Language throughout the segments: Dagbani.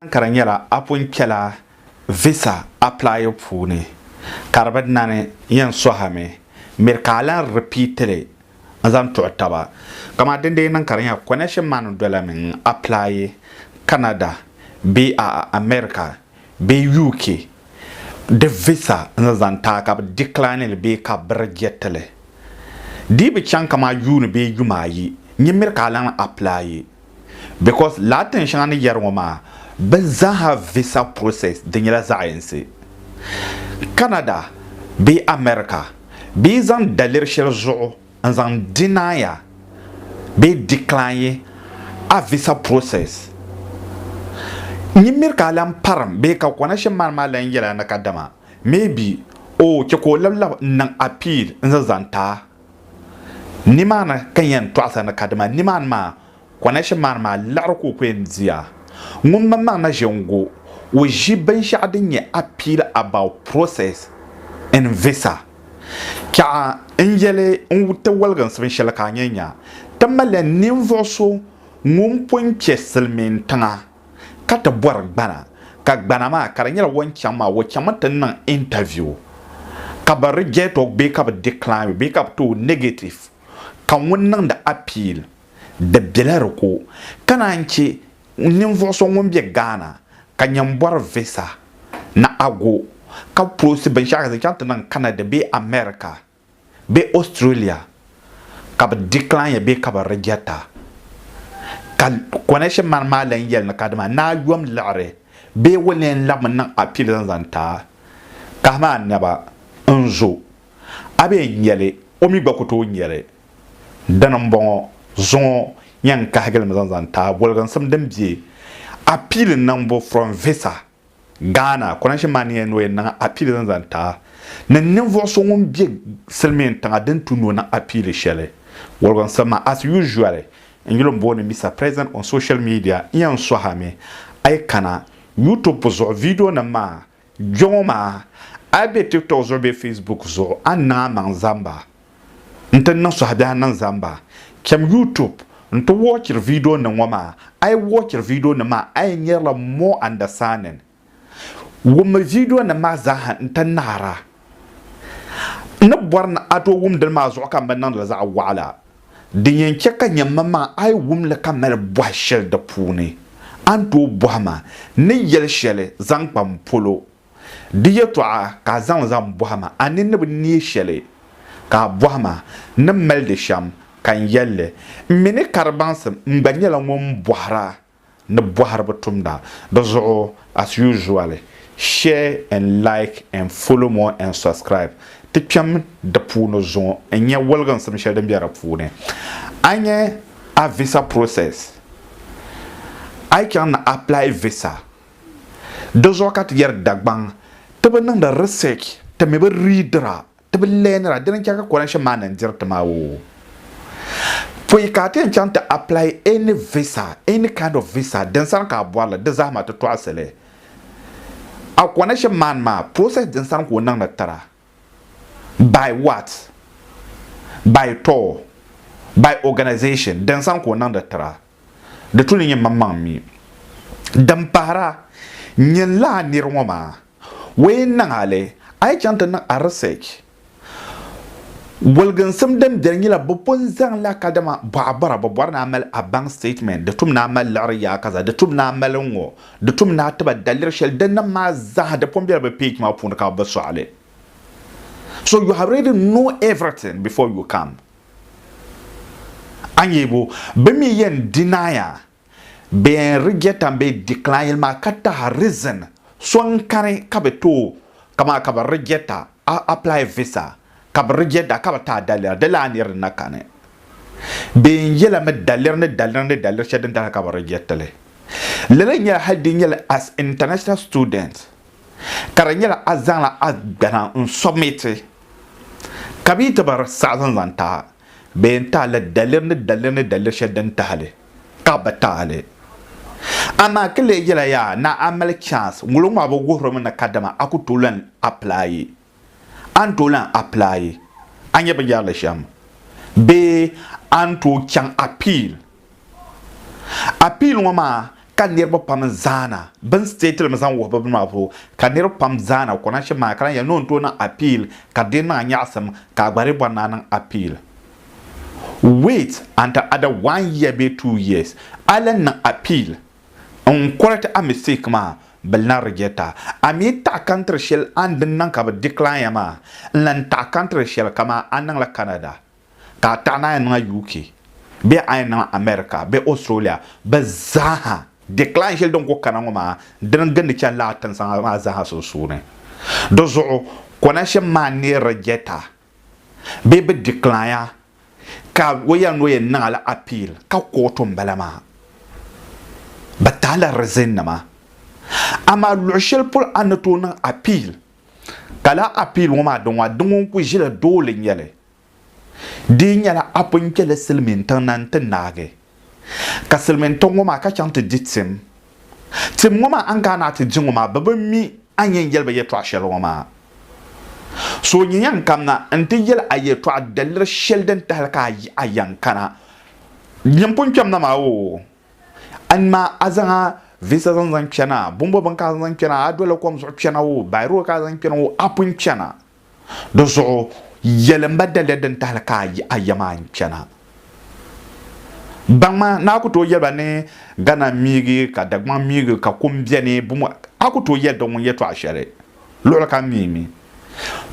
Ankara nyɛla a pun kpɛla visa apply puuni ka di bi nani yɛn sohi mi miri ka a lan repeat li n zaŋ tuɣi taba. Kaman din dee niŋ ka di nyɛla connection maa ni dola mi n apply Canada bee a America bee UK di visa n ni zaŋ ti a ka bi decline li bee ka bi reject li. Di yi bi chaŋ kaman yuuni bee yuma ayi, nyin miri ka a lan apply. because lala tin shɛŋa ni yɛri ŋɔ maa bɛ zaaha visa process di nyɛla zaɣ'yinsi. Canada bee America bɛ yi zaŋ daliri shɛli zuɣu n zaŋ deny-a bee decline a visa process nyin miri ka a lan parim bee ka kɔna shɛm maani maa lan yɛl a ni kadama maybe o chɛ ka o labilab n niŋ appeal n-zaŋ zaŋ ti a Nimaani ka n yɛn tɔɣisi ni kadama nimaani maa kɔnɛshin maa ni maa liɣiri ka o ku yɛn di a. Ŋun mini ma na ʒe n-go o ʒi binshɛɣu din nyɛ appeal about process in visa. Chɛɣa n-yɛli n ti waliginsi binshɛli ka a nya nya. Ti mali ninvuɣ so ŋun pun kpe silimiintiŋa. ka ti bɔri gbana ka gbana maa ka di nyɛla o ni chaŋ maa o chaŋmi ti niŋ interview ka bi reject o bee ka bi decline o bee ka bi ti o negative ka ŋun niŋdi appeal di bela di ko ka naan che ninvuɣu so ŋun be Ghana ka nyɛ n bɔri visa ni ago ka prosi binshɛɣu ka zaŋ chaŋ ti niŋ Canada bee America bee Australia ka bɛ decline ya bee ka bɛ reject a, ka connection man maa lan yɛli ni kadama ni a yom liɣiri bee o leen labimi niŋ appeal zaŋ zani ti a, kahimi a naba n-zo a bee n-nya li, o mi gba ku tooi nya li. Dini m-bɔŋɔ, zuŋɔ yɛn kahigi li mi zaŋ zani ti a voliginsim din be appeal niŋbu from visa Ghana, Konashe Manie ni o yɛn niŋ apiili din zaŋ ti a ni ninvuɣu so ŋun be silimiin tiŋa din tu ni o niŋ apiili shɛli. Wɔligu n siri ma as usually n yuli n booni Mister President on social media n yɛn sɔhi a mi a yi kana YouTube zuɣu video nim maa kpɛŋɔ maa a yi be TikTok zuɣu bee Facebook zuɣu a ni niŋ a maŋ zamba n ti niŋ suhabiɛhi niŋ zamba. Cham YouTube nti wɔɔchiri viidionima ŋɔ maa. A yi wɔɔchiri viidionima maa, a yɛn nyarila more understanding. Wummi viidionima maa zaaha nti naɣira. N ni bɔri ni a tooi wum dini maa zuɣu ka m bi niŋdi li zaɣ wɔɣila. Din yɛn chɛ ka nya m maŋa a yi wum li ka mali bɔhi shɛli di puuni, a ni tooi bɔhi ma ni yɛli shɛli zaŋ kpa m polo. Di yɛtɔɣa ka a zaŋ zaŋ bɔhi ma, a ni ni bi neei shɛli? Ka a bɔhi ma, N ni mali di shɛm, ka n yɛli li, M mi ni ka di baŋsim, m gba nyɛla ŋun bɔhira ni bɔhiriba tumda. Di zuɣu, as usually, share and like and follow more and subscribe. Ti kpɛm di puuni zuŋɔ n-nya woliginsim shɛli din be di puuni. A nya a visa process, a yi chaŋ ni apply visa Di zuɣu ka ti yɛri Dagbaŋ ti bi niŋdi research, ti mi bi readira, ti bi learnira, dini n chɛ ka currency maa niŋ diri ti maa oo. Pɔi ka a ti yɛn chaŋ ti apply any visa, any kind of visa din sani ka a bɔri li, di zaa maa ti tɔɣisi li. A currency man maa process din sani ka o niŋdi tira, by what? By tour? By organisation? Din sani ka o niŋdi tira. Di tu ni nyɛ maŋmaŋ mi. Din pahira, nyin la a nir ŋɔ maa, wee n-niŋ a li, a yi chaŋ ti niŋ a research. Goliginsim din beni nyɛla bɛ pun zaŋla kadama bɔɣa bɔra, bɛ bɔri ni a mali a bank statement, di tum ni a mali liɣiri yaa kaza, di tum ni a mali ŋ-ŋɔ, di tum ni a ti ba daliri shɛli, dinnim maa zaa di pun bela bɛ page maa puuni ka bɛ bi sɔɣi li. So you have already know everything before you come. Anyibu, bɛ mi yɛn dinaaya, bɛ yɛn rijetan bee dikilaayili maa ka tahi rizin so n-kani ka bɛ tooi, kamaa ka bɛ rijeta a apilaai visa, ka bɛ rijeta ka bɛ taai daliri, di laa niri n-na kani. Bɛ yɛn yɛla mi daliri ni daliri ni daliri shɛli din tahiri ka bɛ rijeti li. Lala nyɛla hali di nyɛla as international student ka di nyɛla a zaŋla a gbana n-submiti. Ka bɛ yi ti baŋ saɣisim zaŋ tahi a, bɛ yɛn tahi la daliri ni daliri ni daliri shɛli din tahi li, ka bɛ bi tahi li. Amaa ti leei yɛla yaa naa a mali chance, ŋulo ŋɔ a bi wuhiri mi ni kadama a ku tooi lan applyi, a ni tooi lan applyi a nyɛ binyɛrili shɛm bee a ni tooi chaŋ appeal Appeal ŋɔ maa ka niriba pam zaana bini state limi zaŋ wuhi bɛ bini maa zuɣu ka niriba pam zaana kɔna shɛm maa ka lahi yɛli ni o ni tooi niŋ appeal ka di niŋ a nyaɣisim ka a gba di bɔri ni a niŋ appeal wait until ada one year bee two years a lan niŋ appeal n correct a mistake maa bɛ lan reject a a mi taɣi country shɛli a ni din niŋ ka bɛ decline a maa n lan taɣi country shɛli kaman a niŋla Canada ka a taɣi ni a yɛn niŋ UK bee a yɛn niŋ America bee Australia, bɛ zaaha, decline shɛli din ku kana ŋɔ maa dini gindi chani lala tinsaŋa maa zaaha sunsuuni. Di zuɣu, connection maa neei reject a bee bɛ decline a ka o yɛli ni o yɛn niŋ a la appeal ka kootu m-bala maa. Bɛ tahi la reason nima. Amaa luɣi shɛli polo a ni tooi niŋ appeal ka lala appeal ŋɔ maa di ŋɔ di ŋun ku ʒila dooli n-nyɛli Di nyɛla apun kpɛli silimiintiŋ na n-ti naagi, ka silimiintiŋ ŋɔ maa ka chaŋ ti di tim. Tim ŋɔ maa a ni kana a ti di ŋɔ maa bɛ bi mi a ni yɛn yɛli ba yɛltɔɣ shɛli ŋɔ maa. So n-yi yɛn kamina n-ti yɛli a yɛltɔɣ daliri shɛli din tahili ka a yɛn kana din pun kpɛm na maa oo, a ni maa a zaŋ a visa zaŋ zaŋ kpɛna, bɔmbɔ bini ka a zaŋ zaŋ kpɛna, a doli kom zuɣu kpɛna oo, bayi road ka a zaŋ kpɛna oo, a pun chana. Di zuɣu yɛlim ba daliya din tahili ka a ya maa n-chana. Baŋma ni a ku tooi yɛli ba ni Ghana miigi ka Dagbaŋ miigi ka kum beni bumu a ku tooi yɛli ba ŋun yɛtɔɣa shɛli luɣili kam mi mi.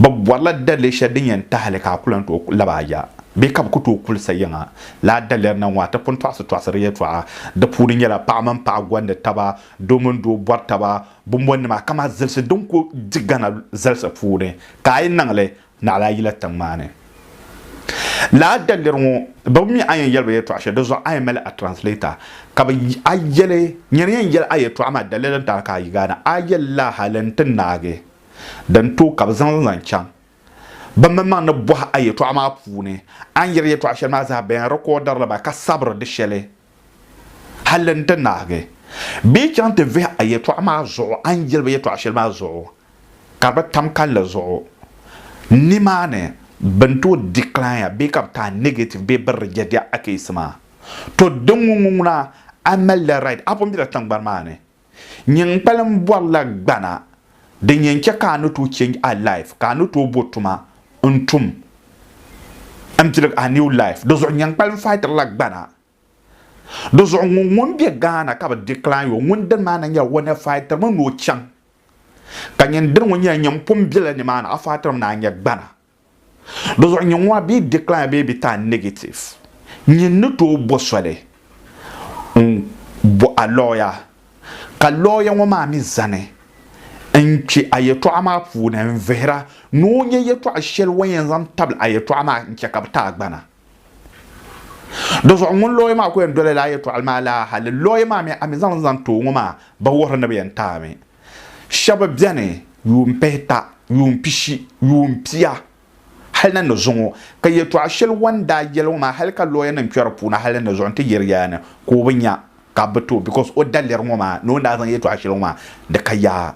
Bɛ bɔrila daliya shɛli din yɛn tahili ka a ku lan tooi lab a ya bee ka bɛ ku tooi kuli sa yiŋa. Lala daliri na ŋɔ a ti pun tɔɣisi tɔɣisiri yɛtɔɣa. Di puuni nyɛla paɣa mini paɣa gɔndi taba, doo mini doo bɔri taba, Bumbɔnnima kama zilisi din ku di Ghana zalisi puuni ka a yi niŋ li naɣila a yila tiŋ maa ni. Lala daliri ŋɔ bɛ bi mi a yɛn yɛli ba yɛltɔɣa shɛli di zuɣu a yɛn mali a translator ka bɛ a yɛli nyini yɛn yɛli a yɛltɔɣa maa daliri n tana ka a yi gaana a yɛli lala hali n ti naagi din tooi ka bɛ zaŋ li zaŋ chaŋ bɛ mi maŋ ni bɔhi a yɛltɔɣa maa puuni a ni yɛli yɛltɔɣa shɛli maa zaa bɛ yɛn recorder li ba ka sabiri di shɛli Hali n ti naagi bee chaŋ ti vihi a yɛtɔɣa maa zuɣu, a ni jɛliba yɛtɔɣ shɛli maa zuɣu ka di bi tam kalinli zuɣu, nimaani bɛ ni tooi decline a bee ka bɛ ti a negative bee bɛ reject a case maa. Tɔ! Dinŋɔ ŋɔ ŋuna a malila right, a pun bela tiŋgbani maa ni. Nyin kpalim bɔri la gbana din yɛn chɛ ka a ni tooi change a life, ka a ni tooi bo tuma n-tum m-pilig a new life. Di zuɣu nyin kpalim fightiri la gbana. Di zuɣu ŋun ŋun be Ghana ka bɛ decline o, ŋun dini maa na nyɛla o ni fightiri mi ni o chaŋ. Ka nyin dini ŋun nyɛla nyin pun bela nimaani, a fightiri mi ni a nya gbana. Dizuɣu nyɛ ŋɔ a bee decline a bee bi taa negative nyin ni tooi bo soli n bo a lawyer ka lawyer ŋɔ maa mi zani n kpe a yɛltɔɣa maa puuni n vihira ni o nya yɛltɔɣa shɛli o ni yɛn zaŋ tabili a yɛltɔɣa maa n che ka bi ti a gbana. Di zuɣu ŋun lɔya maa ku yɛn dolila a yɛtɔɣili maa laa hali lɔya maa mi a mi zaŋli zaŋ ti o ŋɔ maa ba wuhiri ni bɛ yɛn taai mi. Shɛba beni yuun pihita, yuun pishi, yuun pia hali ni ni zuŋɔ ka yɛtɔɣa shɛli wan daa yɛli ŋɔ maa hali ka lɔyanim kpɛri puuni hali ni zuɣu nti yɛri yaa ni ka o bi nya ka bɛ ti o because o daliri ŋɔ maa ni o ni daa zaŋ yɛtɔɣa shɛli ŋɔ maa di ka yaa.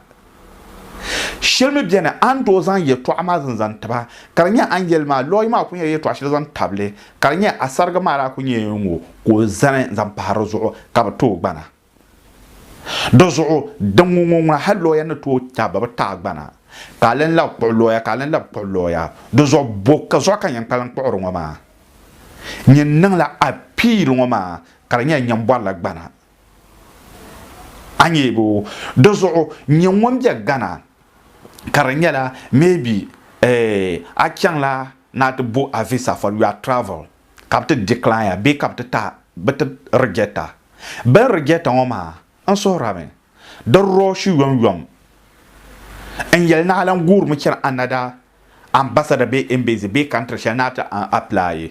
Shɛli mi beni a ni tooi zaŋ yɛltɔɣa maa zini zaŋ tiba, ka di nyɛ a ni yɛli maa, Lɔɣu maa ku nyɛla yɛltɔɣa shɛli zaŋ tabi li, ka di nyɛ a sariga maa daa ku nyɛla ŋɔ ka o zani zaŋ pahi di zuɣu ka bɛ tooi gbana. Di zuɣu din ŋɔ ŋɔ ŋuna hali lɔya ni tooi tabi ba bɛ taai gbana, ka a lan labi kpuɣi lɔya ka a lan labi kpuɣi lɔya. Di zuɣu bɔ ka zuɣu ka n yɛn kpalim kpuɣiri ŋɔ maa? Nyin niŋla apiili ŋɔ maa ka di nyɛla nyambɔrila gbana. a nyeegi o di zuɣu nyɛ ŋun bɛ Ghana ka di nyɛla maybe eh, a chaŋla ni a ti bo a visa for your travel ka bi ti decline ya bee ka bi ti tahi bi ti reject a bini reject a ŋɔ maa n suhurimi di rush yom yom n yɛli ni a lan guurimi chani another ambassador bee embassy bee country shɛli ni a ti apply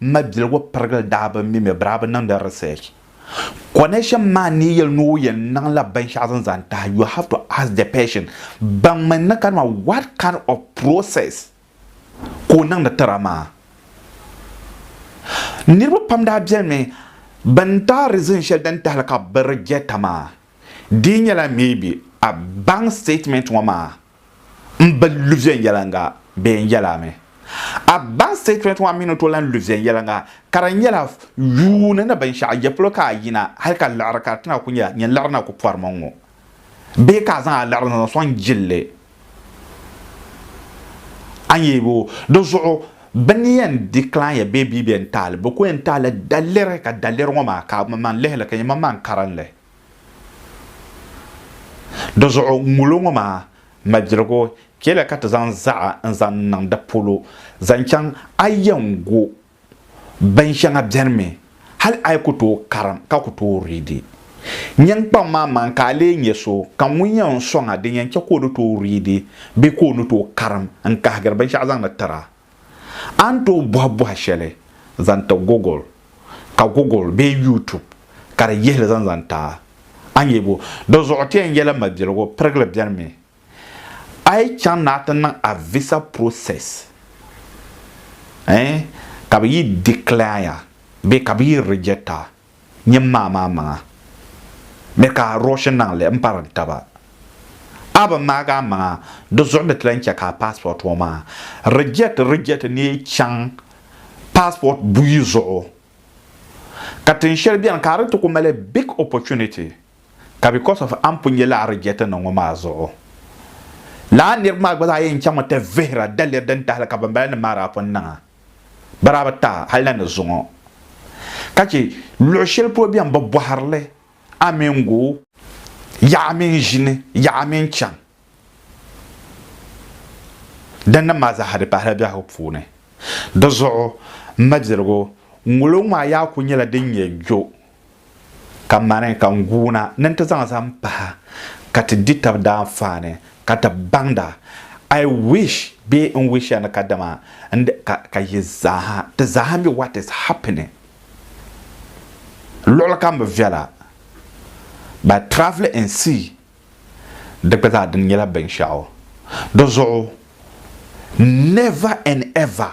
M ma biligu pirigili daa bi mi mi birabi niŋdi research. Connection man ni yɛli ni o yɛn niŋla binshɛɣu zaŋ zani tahi you have to ask the person baŋmi ni kanima what kind of process ka o niŋdi tira maa. Niriba pam daa beni mi bɛn tahi reason shɛli din tahili ka bɛ rejecta maa. Di nyɛla maybe a baŋ statement ŋɔ maa n bi lu viɛnyɛliŋga bee n yɛla mi. A bank statement ŋɔ a mi ni tooi lan lu viɛnyɛliŋga ka di nyɛla yuuni ni binshɛɣu ya polo ka a yina hali ka liɣiri ka di ti na ku nyɛla nyini liɣiri na ku pɔrimi n ŋɔ bee ka a zaŋ a liɣiri ni zaŋ sɔŋ jilli a ni yɛibo di zuɣu bɛ ni yɛn decline ya bee bia bɛ ni taali bɛ ku yɛn taala daliri ka daliri ŋɔ maa ka a manmaŋ lihili ka nyɛ manmaŋ karinli. Di zuɣu ŋulo ŋɔ maa mabiligu chɛla ka ti zaŋ zaɣa n zaŋ niŋ di polo zaŋ chaŋ a yɛn gu bin shɛŋa bɛni mi hali a yi ku tooi karim ka ku tooi riidi nyin kpaŋ maa maŋ ka a lee nyɛ so ka ŋun yɛn sɔŋ a din yɛn chɛ ka o ni tooi riidi bee ka o ni tooi karim n kahigiri binshɛɣu zaŋdi tira. A ni tooi bɔhi bɔhi shɛli zaŋ ti Google, ka Google bee YouTube ka di yihili zaŋ zaŋ ti a. A ni yɛli bo? Di zuɣu ti yɛn yɛla mabiligu pirigili beni mi. A yi chaŋ ni a ti niŋ a visa process eh, ka bɛ yi decline a bee ka bɛ yi reject a, Nyim maa maa maŋa mi ka a rush n-naŋ li m-pari n taba. A bi ŋmaagi a maŋa di zuɣu ni ti lan chɛ ka a passport ŋɔ maa reject reject ni yi chaŋ passport buyi zuɣu. Ka tin shɛli beni ka a di ti ku mali big opportunity ka because of a ni pun nyɛ lala reject niŋ ŋɔ maa zuɣu. Lala niriba maa gba zaa yɛn chaŋmi ti vihira daliri din tahili ka banbala nim maa daa pun niŋ a. barabi tahi hali na ni zuŋɔ ka chɛ luɣ shɛli polo bɛn bi bɔhiri li a mini go yaɣ a mini ʒini yaɣ a mini chaŋ din niŋ maa zaaha di pahila biɛhigu puuni. Di zuɣu, m mabiligu, ŋolo ŋɔ a yaa kul nyɛla din nyɛ jo ka mani ka n guuna ni n ti zaŋ zaŋ pahi ka ti di tab daanfaani ka ti baŋda. I wish bee n wish ya ni kadama n di ka ka yi zaaha ti zaaha mi what is happening luɣili kam bi viɛla by travelling and see di gba zaa di nyɛla binshɛɣu di zuɣu never and ever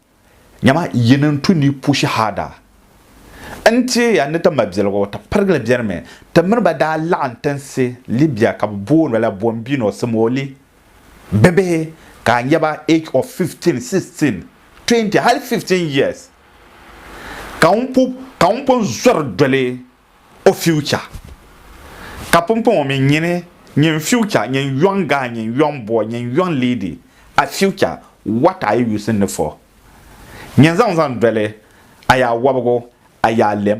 Nyama yi ni n tu ni yi pu shahada, n teei ya ni ti ma biɛligu. Ti pirigili biɛrimi. Ti mini ba daa laɣim tinsi Libya ka bɛ booni ba la Bombino, Simoli bibihi ka a nya ba age of 15, 16, 20 hali 15 years ka ŋun pun zɔri doli o future ka pumpɔŋɔ mi nyini nyin future nyin young guy nyin young boy nyin young lady a future what are you using it for nyin zaŋ zaŋ doli a yaa wɔbigu a yaa lem